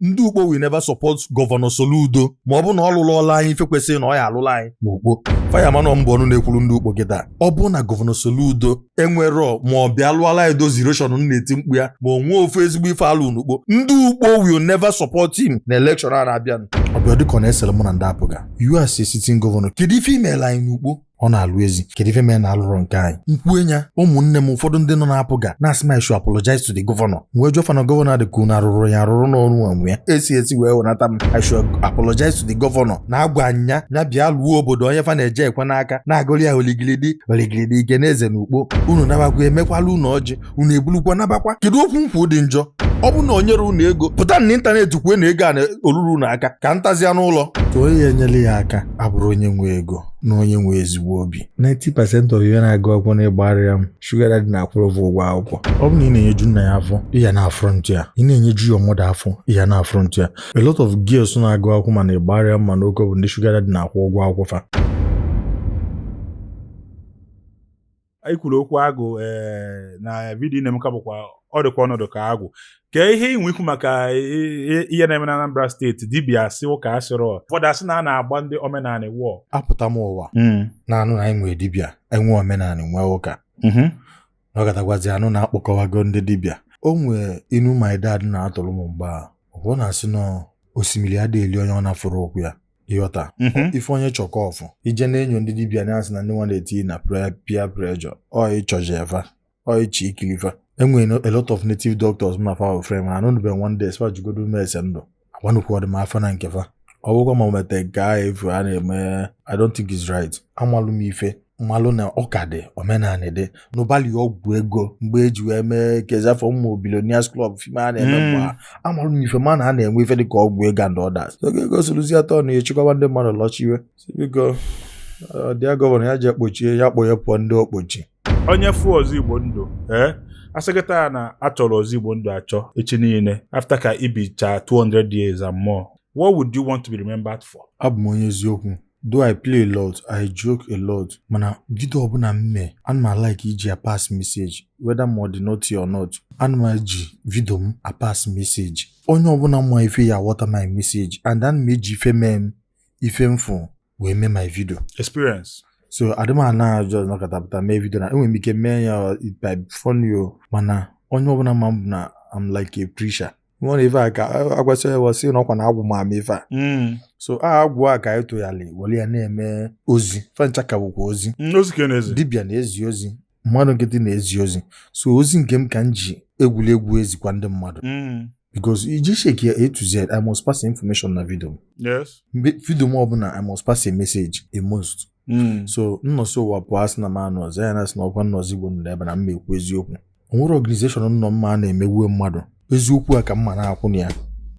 ndị ukpo will never support gọvanọ Soludo ma ọ bụ na ọ lụrụ ọla anyị ife kwesịrị na ọ ya alụla anyị ma ukpo Fireman m bụ ọnụ na-ekwuru ndị ukpo kịta ọ bụ na gọvanọ Soludo enwerọ ma ọ bịa lụọla anyị dozi iroshọn m na-eti mkpu ya ma o nwee ofu ezigbo ife alụ n'ukpo ndị ukpo will never support him na elekshọn a na-abịanụ ọ bịa dịka ọ na-esere mụ na ndị APGA you as a sitting gọvanọ kedu ife imeela anyị n'ukpo ọ na-alụ ezi kedu ife mere na ọ lụrọ nke anyị m kwue ya ụmụnne m ụfọdụ ndị nọ na APGA na-asị m I should apologize to the gọvanọ m wee jụọ fa na gọvanọ dị ka unu arụrụ ya arụrụ n'ọrụ onwe ya esi esi wee wenata m I should apologize to the gọvanọ na-agwa ya ya bịa lụọ obodo onye fa na-eji ekwe n'aka na-agụrụ ya oligilidi oligilidi igwe na eze na ukpo unu nabakwa emekwala unu ọjị unu ebulukwa nabakwa kedu okwu m kwu dị njọ ọ bụ na o nyere unu ego pụta na ịntanetị kwue na ego a oluru unu aka ka m tazia n'ụlọ ka onye ya enyere ya aka abụrọ onye nwe ego na onye nwe ezigbo obi 90% of ihe na-agụ akwụkwọ na Igbariam shuga dadị na-akwụrụ ụgwọ ụgwọ akwụkwọ ọ bụ na ị na-enyeju nna ya afọ ịya na afront ya ị na-enyeju your mother afọ ịya na afront ya a lot of girls na-agụ akwụkwọ ma na Igbariam ma n'Oko bụ ndị shuga dadị na-akwụ ụgwọ akwụkwọ fa anyị kwuru okwu agwụ ee na vidiyo na-emeka bụkwa ọ dịkwa ọnọdụ ka agwụ kee ihe i nwe ikwu maka ihe na-eme na Anambra steeti dibịa sị ụka asịrọ ụfọdụ asị na a na-agba ndị omenanị wọ apụta m ụwa hmm. na-anụ na anyị nwere dibịa enwe omenanị nwee ụka mm-hmm. na ọ gatagwazi anụ na-akpọkọwago ndị dibịa o nwee inu my dad na-atụrụ m mgbe a ọ na-asị na osimiri adịghị eli onye ọ na-afụrọ ụkwụ ya ịghọta mhm. ife onye chọkọ ọ fụ ije na-enyo ndị dibia na-asị na ndị nwa na-etinye na peer pressure ọ ịchọji efa ọ ịchị ikilifa enwere a lot of native doctors ma fa ofre ma anụ nube one day spa jugodo ume ese ndụ agbanụkwu ọdịma afọ na nkefa ọ bụkwa ma mete nke ahụ efu a na-eme I don't think it's right amalụ m ife m malụ na ụka dị omenanị dị n'ụbalị ọgwụ ego mgbe eji wee mee kezafọ mmụ Billionaires Club fim a na-eme mgbe hmm. a marụ na ife ma na a na-enwe ife dịka ọgwụ ego and others oge ego soluzi atọ na echekwaba ndị mmadụ lọchiwe biko dear gọvanọ ya ji ekpochie ya kpọ ya pụọ ndị okpochi onye fụ ọzọ igbo ndụ ee eh? asị kịta a na achọrọ ọzọ igbo ndụ achọ echi niile after ka i bicha 200 years and more what would you want to be remembered for abụ m onye eziokwu though i play a lot i joke a lot mana vidio ọbụla m mee ana m alike iji apass message whether ma ọ dị naughty or not ana m eji vidio m apass message onye ọbụla mma ife ya water my message and ana m eji ife mee m ife m fụ wee mee my video experience so adị m ana just nọkata pụta mee vidio na enwere m ike mee ya by phone yo mana onye ọbụla ma m bụ na I'm like a preacher nwere ife a ka agwasị e wee sị na ọkwa na agwụ ma ama ife a Mm. so a agwụ a ka anyị tụgharị were ya na-eme ozi fa ncha ka bụkwa ozi Mm, ozi ka ị na-ezi dibịa na-ezi ozi mmadụ nkịtị na-ezi ozi so ozi nke m ka m ji egwuregwu ezikwa ndị mmadụ Mm. because iji shake ya A to Z I must pass information na vidio m yes vidio m ọbụla I must pass a message a must hmm. so m nọsị ụwa pụọ asị na m anụ ọzọ ya na-asị na ọkwa na Ozoigbondu nọ ebe na mma ekwu eziokwu o nwere ọganizeshọn nọ mma a na-emegbuo mmadụ eziokwu a ka mma na-akwụ na ya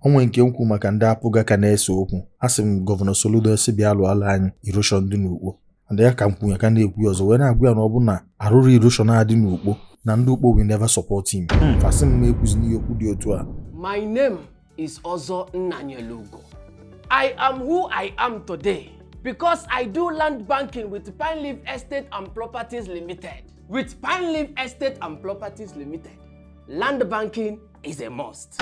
o nwee nke m kwu maka ndị APGA ka na-ese okwu asị m gọvanọ Soludo sị bịa lụọla anyị iroshọn dị n'ukpo and ya ka m kwu ya ka na-ekwu ya ọzọ wee na-agwa ya na ọ bụ na arụrọ iroshọn a dị n'ukpo na ndị ukpo will never support him hmm. fa sị m na-ekwuzi n'ihe okwu dị otu a my name is Ozoigbondu. I am who I am today because I do land banking with Pine Leaf Estate and Properties Limited. With Pine Leaf Estate and Properties Limited, land banking is a must.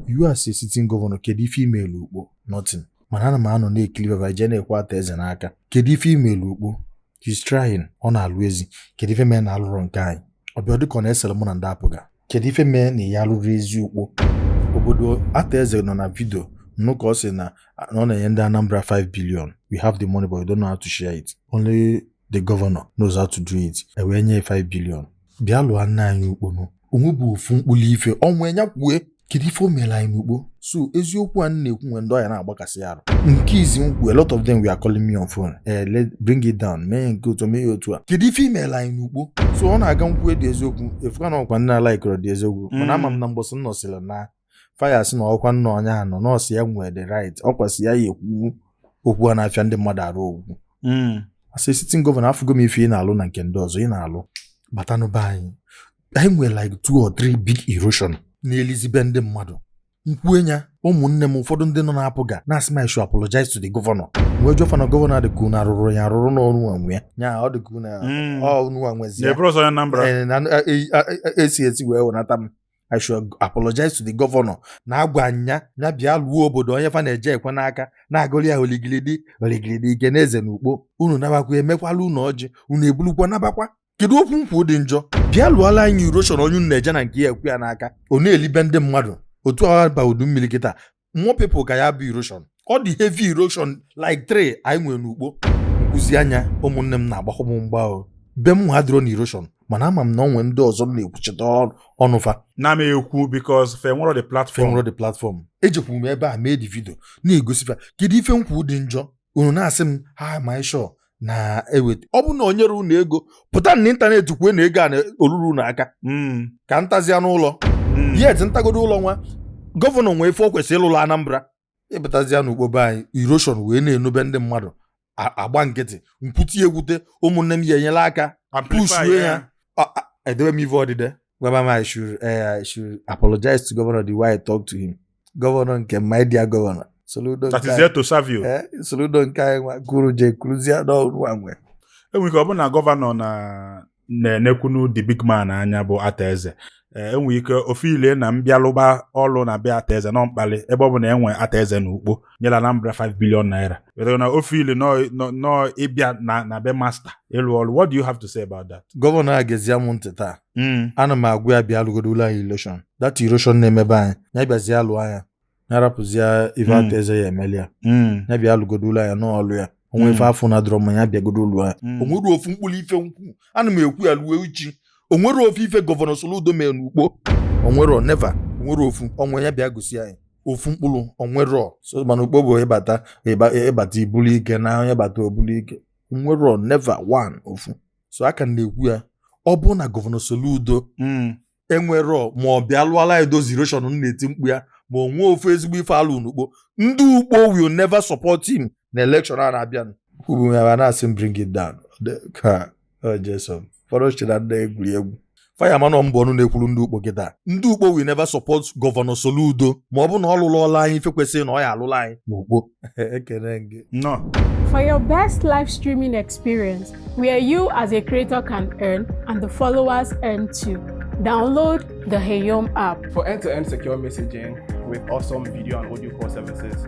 You as a sitting governor, kedu ife i melu Ukpo? Nothing. Mana ana m anọ na-ekili ebe i je na-ekwe Arthur Eze n'aka. Kedu ife i melu Ukpo? he's trying ọ na-alụ ezi kedu ife mee na alụrọ nke anyị ọ bịa dịka ọ na-esere mụ na ndị APGA kedu ife mee na ya alụrọ ezi ukpo obodo Arthur Eze nọ na vidio m nụ ka ọ sị na ọ na-enye ndị Anambra 5 billion we have the money but we don't know how to share it only the governor knows how to do it e wee nye 5 billion bịa lụọla anyị ukpo nụ o nwee bụ ofu mkpụrụ ife o nwee nya kwue kedu ife o mere anyị n'ukpo so eziokwu a m na-ekwu nwe ndị ọ ya na-agbakasị arụ nke izi m kwu a lot of them were calling me on phone eh let bring it down mee nke otu mee ya otu a kedu ife i mere anyị n'ukpo so ọ na-aga m kwude eziokwu efuka na ọkwa nna ala ikọrọ dị eziokwu mana ama m na mbọsị m nọsịrị na fa ya-asị na ọkwa na onye a nọ na ọ sọ ya nwere the right ọ kwasị ya ya ekwu okwu a na-afịa ndị mmadụ arụ okwu hmm. asị sitting gọvanọ afụgo m ife ị na-alụ na nke ndị ọzọ ị na-alụ batanụ be anyị anyị nwere like two or three big erosion na-elizibe ndị mmadụ m kwue ya ụmụnne m ụfọdụ ndị nọ na APGA na-asị m I should apologize to the governor wee jụọ fa na gọvanọ a dịka unu arụrụ ya arụrụ n'ọrụ nwe ya ya ọ dịka unu hmm. ọnụ nwezie esi esi wee wenata m I should apologize to the governor na agwa nya nya bịa lụọ obodo onye fa na-eje ekwe n'aka na-agụrụ ya oligilidi oligilidi ike na eze na ukpo unu nabakwa emekwala unu ọjị unu ebulukwa nabakwa kedu okwu m kwu dị njọ bịa lụọla anyị iroshọn onye unu na-eje na nke ya ekwe ya n'aka ọ na-elibe ndị mmadụ otu a baa udu mmiri kịta more people ka ya bụ erosion ọ dị heavy erosion like three anyị nwere n'ukpo m kwuzie nya ụmụnne m na-agbakwa m mgba o be m adịrọ na erosion mana ama m na ọ nwee ndị ọzọ m na-ekwuchite ọnụ fa na m ekwu because fa enwerọ the platform m nwere the platform ejekwu m ebe a mee the video na-egosi fa kedu ife m kwu dị njọ unu na-asị m na m should na-eweta ọ bụ na o nyere unu ego pụta na ịntanetị kwue na ego a na o luru unu aka hmm. ka ntazia n'ụlọ hmm. yet ntagodo ụlọ nwa gọvanọ nwee ife o kwesịrị ịlụlụ Anambra ịpụtazia n'Ukpo be anyị iroshon wee na-enobe ndị mmadụ agba nkịtị nkwuti egwute ụmụnne m ya enyela aka pushue ya edebe m ive odide gwaba m I should eh, I should apologize to governor the way I talk to him gọvanọ nke my dear gọvanọ Soludo that is there to serve you eh, Soludo nke anyị nwa kwuru je kwuruzie n'ọnwa nwe enwere ike ọ bụ na gọvanọ na na-enekwunu the big man anya bụ Arthur Eze Eh, enwere ike o feelie na m bịa lụba ọlụ na be Arthur Eze na ọ mkpalị ebe ọ bụ na enwe Arthur Eze na Ukpo nyere Anambra 5 billion naira wetara na o feelie nọ- nọ- nọ ịbịa na na be masta ịlụ ọrụ what do you have to say about that gọvanọ a gezie mụ ntị taa Mm. ana m agwa ya bịa lụgodolụ anyị iroshon dat iroshon na-emebe anyị ya bịazie alụ anya ya rapụzie ife Mm. Arthur Eze ya emeli ya Mm. ya bịa lụgodolụ anyị ya n'ọlụ ya onwe Mm. ife afọ na dọrọ ma ya bịagodo lụọ ya Mm. onwerọ ofu mkpụrụ ife nkwu ana m ekwu ya luo echi onwerọ ofu ife gọvanọ Soludo mere n'Ukpo onwerọ neva onwerọ ofu onwe ya bịa gosi anyị ofu mkpụrụ onwerọ so mana Ukpo bụ ịbata ịbata ibulu ike na onye bata obulu ike onwerọ neva one ofu so aka na-ekwu ya ọ bụ na gọvanọ Soludo hmm. enwerọ ma ọ bịa lụọla anyị dozie iroshon na-eti mkpu ya ma onwe ofu ezigbo ife a lụ n'Ukpo ndị Ukpo will never support him na elekshọn a na-abịanụ kwuru ya na-asị bring it down fọrọchira ndị egwuregwu Fireman ọ m bụ ọnụ na-ekwuru ndị Ukpo kịta ndị Ukpo will never support gọvanọ Soludo ma ọ bụ na ọ lụlụọla anyị ife kwesịrị na ọ ya alụla anyị n'Ukpo ekene gị nọ For your best live streaming experience, where you as a creator can earn and the followers earn too, download the Heyom app. For end-to-end secure messaging with awesome video and audio call services,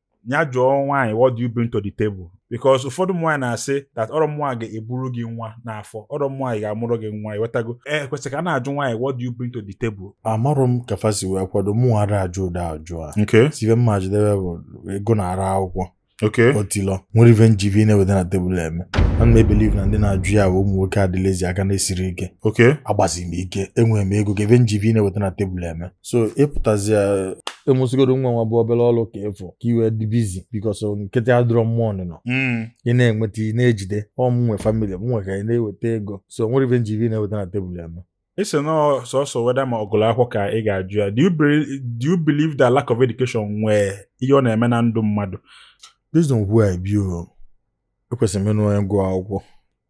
ya jụọ nwaanyị what do you bring to the table because ụfọdụ nwaanyị na-asị that ọrọ nwaanyị ga-eburu gị nwa n'afọ ọrọ nwaanyị ga-amụrụ gị nwa iwetago e eh, kwesịrị ka a na-ajụ nwaanyị what do you bring to the table amarọ m ka fa si wee kwado mụ ara ajụ ụdị ajụ a nke sive mma jidebe bụ ego na ara akwụkwọ otilọ nwere ife njivi na-eweta na tebụl eme ana m ebelieve na ndị na-ajụ ya ụmụ nwoke a dị lazy aka na-esirọ ike agbazi m ike enwere m ego ka ife njivi na-eweta na tebụl eme so ịpụtazi emesigodo nwa nwa bụ obere ọrụ ka ịfụ ka iwe dị busy bikos nkịtị adịrọ mma ọnụnọ hmm. ị na-enweta ị na-ejide ọ mụ nwe famili m nwe ka ị na-eweta ego so nwere ive njivi na-eweta na tebụl ya nọ ịsị na sọsọ whether ma ọ gụlụ akwụkwọ ka ị ga-ajụ ya do you believe that lack of education nwee ihe ọ na-eme na ndụ mmadụ based on where I be o ekwesịrị m ịnụ onye gụọ akwụkwọ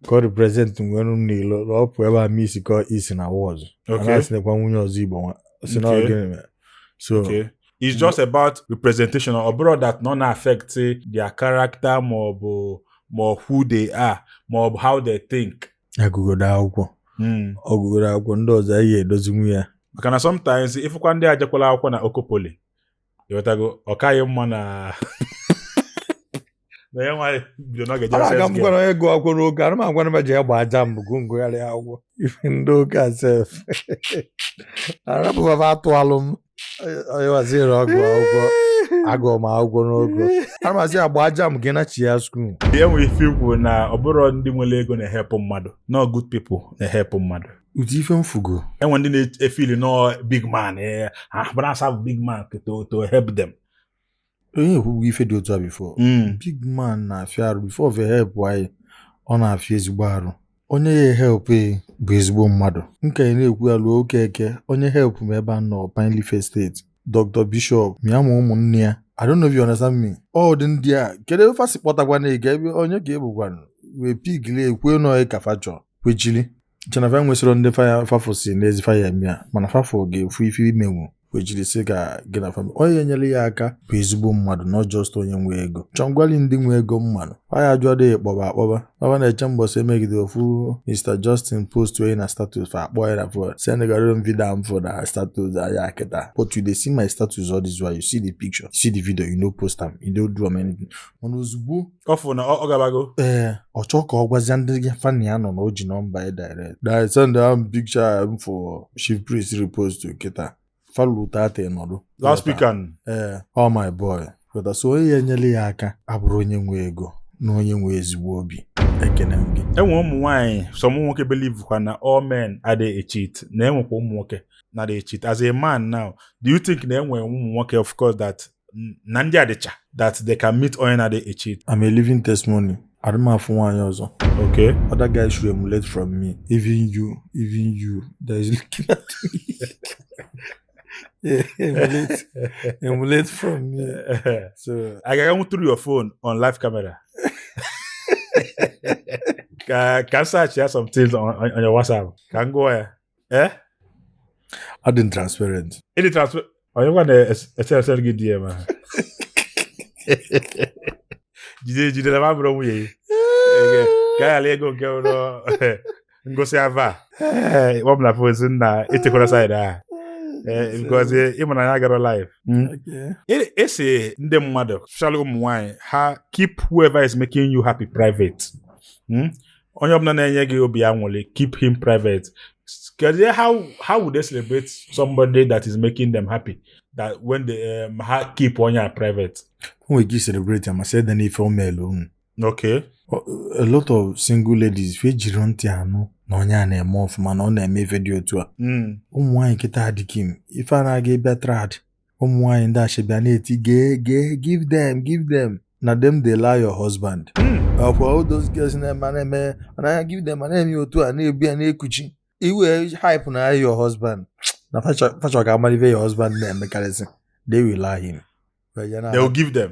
ka ọ represent nwere m n'ilo na ọ pụ ebe a ma isi ka isi na-awa ọzọ Okay. a na-asị nekwa nwunye ọzọ igbo nwa si na Okay. ọ gịnị mere so Okay. It's just about representation. Ọ bụrọ that na ọ na-affect their character ma ọ bụ ma ọ who they are ma ọ bụ how they think. a gụgodo akwụkwọ Mm. ọ gụgodo akwụkwọ ndị ọzọ anyị ga-edozinwu ya Maka na sometimes ị fụkwa ndị a jekwala akwụkwọ na Oko Poly ị ghọtago ọ kaghị mma na na ya nwaanyị bido n'oge Ara aka m sex gwara gụọ akwụkwọ n'oge ara m agwara m ji egba aja mbụ gụ ngụgharị akwụkwọ ife ndị ụka sef arapụbaba atụalụ m ọyịwaziri ọgụ akwụkwọ agụọ m akwụkwọ n'oge ara mazi agba aja m gị na chi ya skuul. e nwere ife i kwu na ọ bụrọ ndị nwere ego na-ehelp mmadụ na ọ good people na-ehelp mmadụ ụdị ife m fụgo e nwe ndị na-efeel na ọ big man eh, ha bụrụ asa bụ big man to to help them onye ekwugo ife dị otu a before hmm. big man na-afịa arụ before ọ help anyị ọ na-afịa ezigbo arụ onye ya help ị bụ ezigbo mmadụ nke anyị na-ekwu ya ruo oke eke onye help m ebe a nọ Pineleaf Estate Dr. Bishop mịa ma ụmụnne ya I don't know if you understand me. Ọ dị ndị a kedu ebe fa si kpọtakwana ị ga ebe onye ka ebugwanụ wee pigili ekwue nọ ka fa chọọ kwechili che na fa enwesịrọ ndị faya fafụ si n'ezi fa ya-eme ya mana fafụ ga-efu ife i menwu wee jiri sị ka gị na famili onye enyere ya aka bụ ezigbo mmadụ not just onye nwe ego chọngwali ndị nwe ego mmadụ faya ajụ adịghị kpọba akpọba ọba na-eche mbọsị emegide ofu Mr Justin post onye na status fa akpọọ ya na fon sendegara m vidio m fụ na status ya kịta but you dey see my status all this while you see the picture you see the video you no post am you no do am anything mana ozugbo ọ fụ na ọ gabago ee ọ chọọ ka ọ gwazia ndị fa na ya nọ na o ji nọmba ya direct na send am picture m for chief priest repost to kịta falu tata nọdụ last weekend ee all my boy kweta so onye ya enyela ya aka abụrọ onye nwe ego na onye nwe ezigbo obi ekene m gị e nwe ụmụ nwaanyị some ụmụ nwoke believe kwa na all men adịghị echeat na e nwekwa ụmụ nwoke na-adịghị echeat as a man now do you think na e nwe ụmụ nwoke of course that na ndị a dịcha that they can meet onye na-adịghị echeat I'm a living testimony adị m afụ nwaanyị ọzọ okay other guys should emulate from me even you even you that is looking at me yeah, emulate emulate from me so I can go through your phone on live camera ka ka m search ya some things on, on, on your WhatsApp ka m gụọ ya eh? adị m transparent ịdị transfer onye gwa na-eseresere gị DM ahụ jide ejide na m abụrọ nwunye gị Ege, ka a ghara ego nke ụlọ ngosi ava ọ bụ na fozi nna echekwara saịdị ahụ Eh, because eh, ịma na ya agarọ live Okay. E- a sị ndị mmadụ especially ụmụ nwanyị ha keep whoever is making you happy private Hmm? onye ọbụla na-enye gị obi anwụlị keep him private kedu how how would they celebrate somebody that is making them happy that when they um, ha keep onye a private o nwere ike celebrate ya ma sị ede n'ife o meelu unu okay a lot of single ladies fa ejiri ntị anụ na onye a na-eme ọfụma na ọ na-eme ife dị otu a mm. ụmụ nwaanyị kịta adịghị m ife a na-aga ị bịa trad ụmụ nwaanyị ndị ashebi a na-eti gee gee give them give them na dem dey la your husband ọkwa hmm. all those girls na-eme na-eme anaghị give them na-eme otu a na-ebu ya na-ekuchi iwe hype na your husband na facha ka amalị ive your husband na-emekarịsị they will la him they will give them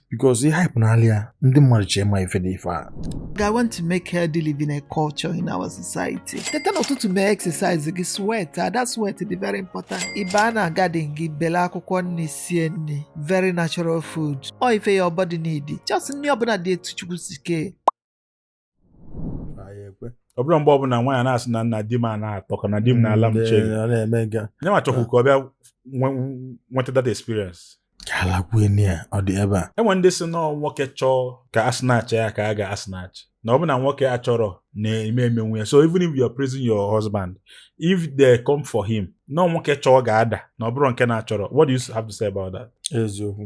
because ihe hype n'ala ya ndị mmadụ chee ma ife dị ife a I want to make healthy living a culture in our society. Teta n'ụtụtụ mee exercise gị sweat that sweat dị very important. Ị baa na garden gị bele akwụkwọ nni sie nni very natural food. Ọ ife your body need. Just nni ọbụna dị etu Chukwu si kee. ọ bụrụ mgbe ọbụla nwaanyị na-asị na na di m na-atọka na di m mm, na-ala m che nye ma chọkwu ka ọ bịa nweta that experience enwe ndị sị na ọ nwoke chọọ ka a snatch ya ka a ga-asnatch na ọ bụ na nwoke achọrọ na-eme emenwu ya so even if you are praising your husband if they come for him na ọ nwoke chọọ ga-ada na ọ bụrọ nke na-achọrọ what do you have to say about that? eziokwu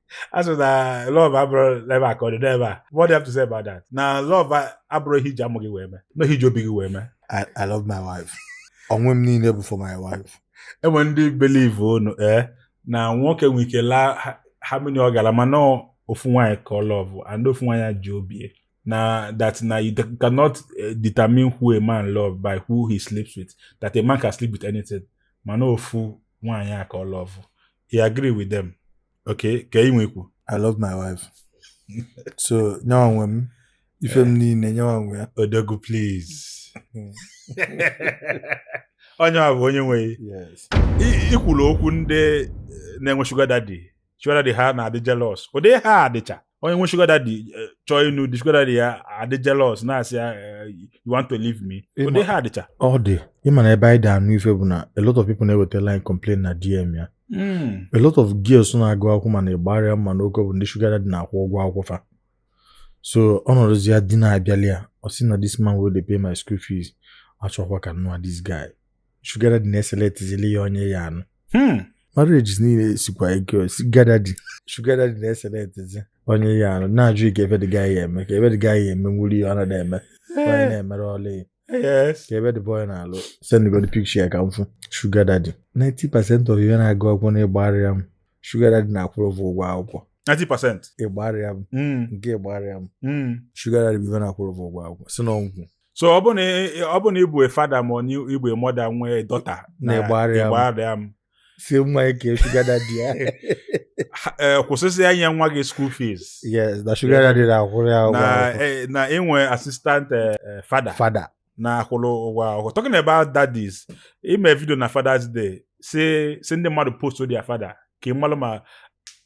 a sị that love abụrọ ebe a ka ọ dị n'ebe a what do you have to say about that na love abụrọ ihe i ji amụ gị wee mee na ọ ihe i ji obi gị wee mee I, I love my wife. Onwe m niile bụ for my wife. enwe ndị believe unu ee na nwoke nwere ike laa ha- how many ọ ga-ala mana ọ ofu nwaanyị ka ọ love and ofu nwaanyị a ji obi ya. na that na you de- cannot eh, determine who a man love by who he sleeps with that a man can sleep with anything mana ofu nwaanyị a ka ọ love i agree with them okay ka ị nwekwu i love my wife so nyawa nwe m ife m niile nyawa nwe ya odogu please onye a bụ onye nwe gị yes I- i kwulu okwu ndị eh, na-enwe sugar daddy sugar daddy ha na-adị jealous ụdị ha adịcha onye nwe sugar daddy eh, chọọ ịnụ di sugar daddy ya adị jealous na-asị ya eh, you want to leave me Ịma- ụdị ha adịcha ọ dị ịma na ebe anyị dị anụ ife bụ na a lot of people na-ewetalị anyị complain na dm ya Mm. a lot of girls na-agụ akwụkwọ mana ịgbarịa mma n'oge ọ bụ ndị sugar daddy na-akwụ ụgwọ akwụkwọ fa so ọ nọdụzia di na-abịali ya ọ sị na this man wey dey pay my school fees achọkwa ka m nụa this guy sugar daddy na-eselectizili ya onye ya anụ hmm. marriages niile sikwa ike sugar daddy sugar daddy na-eselectizi onye ya anụ na-ajụ ị kee ebe the guy ya eme kee ebe the guy ya eme nwuri ya ọ na-eme onye na-emere ọla ya kee ebe the boy na-alụ send godu picture ya ka m fụ sugar daddy 90 percent of ihe na-agụ akwụkwọ na Igbariam sugar daddy na-akwụrụ ụgwọ ụgwọ akwụkwọ 90% Igbariam nke Igbariam sugar daddy bụ ife na-akwụrụ ụgwọ ụgwọ akwụkwọ si na ọgwụ so ọ bụ na ọ bụ na ị bụ a father ma ị bụ a mother nwee daughter na Igbariam. Igbariam sị nwa ị kee sugar daddy ya Ha- eh, kwụsịzịa inye nwa gị school fees yes na sugar daddy na-akwụrụ ya ụgwọ na akwụkwọ. eh, na i nwe assistant eh, eh, father father na-akwụrụ ụgwọ akwụkwọ talking about daddies i me video na Father's Day sị sị ndị mmadụ post their father ka ị malụ ma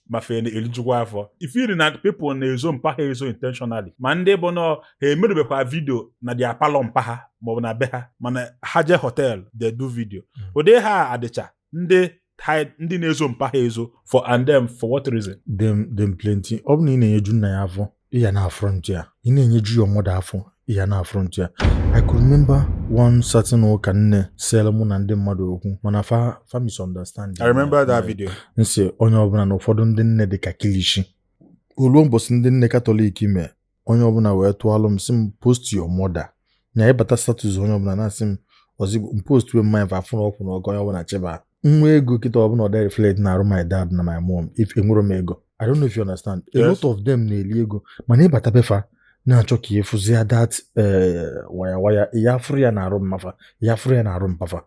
ma fa na-elijukwa afọ ị fụrụ na people na-ezo mpa ha ezo intentionally ma ndị bụ na ha emerubekwa video na their parlour mpa ha maọbụ na be ha mana ha je hotel dey do video hmm. ụdị ha adịcha ndị hide ndị na-ezo mpa ha ezo for and them for what reason. dem dem plenty ọ bụ na ị na-enyeju nna ya afọ ya na-aflaunt ya ị na-enyeju your mother afọ ị ya na-aflaunt ya I could remember one certain ụka nne selụ mụ na ndị mmadụ okwu mana fa fa misunderstand I remember that video m sị onye ọbụla na ụfọdụ ndị nne dị ka kilishi o luo mbọsị ndị nne Catholic i mee onye ọbụla wee tụọlụ m sị m post your mother na ị bata status onye ọbụla na-asị m ozigbo m post wee mmanya fa afụrụ ọkwụ na ọgọ onye ọbụla cheba nwa ego kịta ọ bụ na ọ da reflect na arụ my dad na my mom if enwere m ego I don't know if you understand a Yes. lot of them na-eli ego mana ị bata be fa na-achọ ka ị fụzie that wire wire ya afụrọ ya na arụ mma fa ya afụrọ ya na arụ mpa fa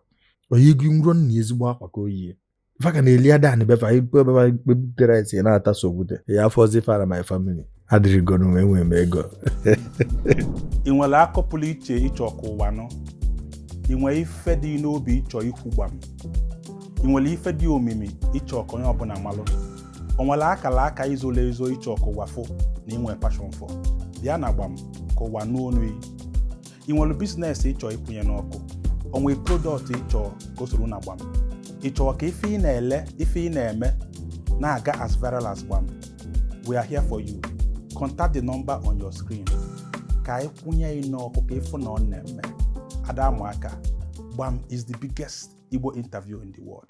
oyi gị nro na ezigbo akwa ka o yi fa ka na-eli ada be fa be fa kpepụtara esi na-ata sogbute ya as far as my family adịrịgonu enwere m ego ị nwere akọ pụrụ iche ị chọ ka ụwa nụ ị nwere ife dị n'obi ị chọ ikwu gbam ị nwere ife dị omimi ị chọ ka onye ọbụla malụ o nwere akala aka i zolu ezo ị chọ ka ụwa fụ na i nwe passion for bịa na Gbam ka ụwa nụ onu ị nwere business ị chọ ịkwụnye n'ọkụ o nwe product ị chọ ka o soro na Gbam ị chọrọ ka ife ị na-ele ife ị na-eme na-aga as viral as Gbam we are here for you contact the number on your screen ka anyị kwụnye ị n'ọkụ ka ị fụ na ọ na-eme a da-amụ aka Gbam is the biggest Igbo interview in the world